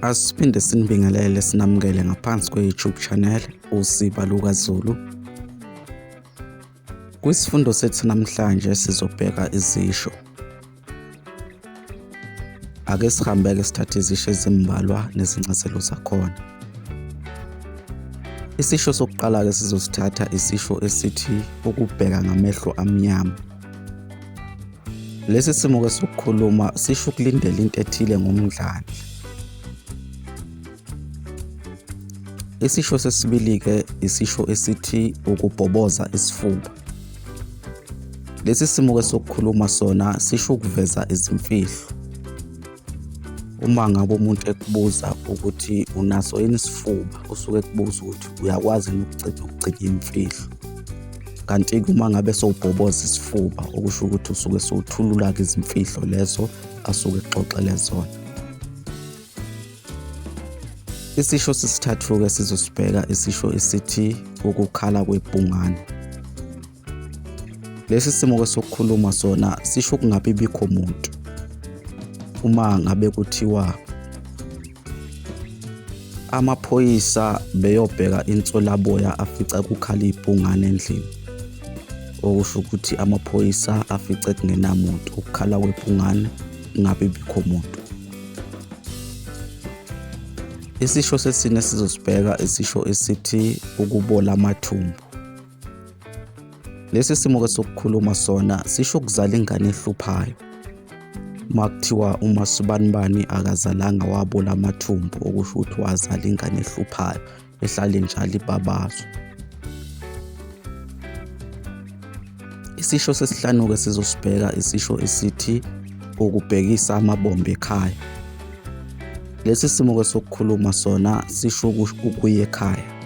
Asiphinde sinibingelele sinamukele ngaphansi kwe-YouTube channel Usiba LukaZulu. Kwisifundo sethu namhlanje sizobheka izisho. Ake sihambeke sithathe izisho ezimbalwa nezincazelo zakhona. Isisho sokuqala-ke sizosithatha isisho esithi ukubheka ngamehlo amnyama. Lesi simo ke sokukhuluma sisho ukulindela into ethile ngomdlandla. Isisho sesibili ke isisho esithi ukubhoboza isifuba. Lesi simo ke sokukhuluma sona sisho ukuveza izimfihlo. uma ngabe umuntu ekubuza ukuthi unaso yini isifuba usuke ekubuza ukuthi uyakwazi yini ukuceda ukugcina imfihlo kanti-ke uma ngabe sowubhoboza isifuba okusho ukuthi usuke sowuthulula-ke izimfihlo lezo asuke exoxele zona isisho sesithathu-ke sizosibheka isisho esithi ukukhala kwebhungane Lesi simo kwesokukhuluma sona sisho ukungabi bikho muntu uma ngabe kuthiwa amaphoyisa beyobheka inswelaboya afica kukhala ibhungane endlini okusho ukuthi amaphoyisa afice kungenamuntu ukukhala kwebhungane ngabe bikho muntu isisho sesine sizosibheka isisho esithi ukubola amathumbu Lesi simo ke sokukhuluma sona sisho ukuzala ingane ehluphayo. Makuthiwa uma sibanibani akazalanga wabula amathumbu okusho ukuthi wazala ingane ehluphayo ehlale njalo ibabazo. Isisho sesihlanu ke sizosibheka isisho esithi ukubhekisa amabombe ekhaya. Lesi simo ke sokukhuluma sona sisho ukuya ekhaya.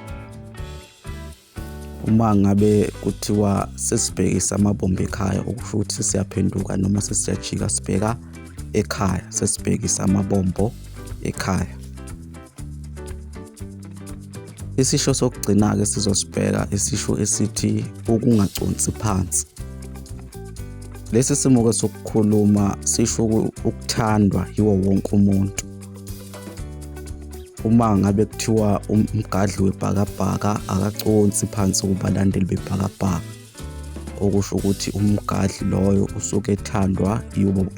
Uma ngabe kuthiwa sesibhekisa amabombe ekhaya okusho ukuthi sesiyaphenduka noma sesiyajika sibheka ekhaya sesibhekisa amabombo ekhaya isisho sokugcina-ke sizosibheka isisho esithi ukungaconsi phansi lesi simo-ke sokukhuluma sisho ukuthandwa yiwo wonke umuntu uma ngabe kuthiwa um, umgadli webhakabhaka akaconsi phansi kubalandeli bebhakabhaka okusho ukuthi umgadli loyo usuke ethandwa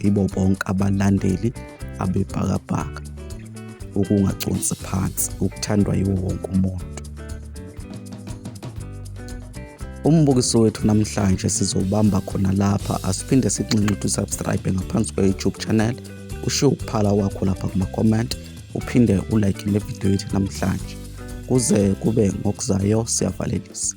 yibo bonke abalandeli abebhakabhaka ukungaconsi phansi ukuthandwa yiwo wonke umuntu umbukiso wethu namhlanje sizobamba khona lapha asiphinde sinxenxe uthi subscribe ngaphansi kwe-youtube channel ushiye ukuphala kwakho lapha kuma-comment uphinde ulike le video yethu namhlanje kuze kube ngokuzayo siyavalelisa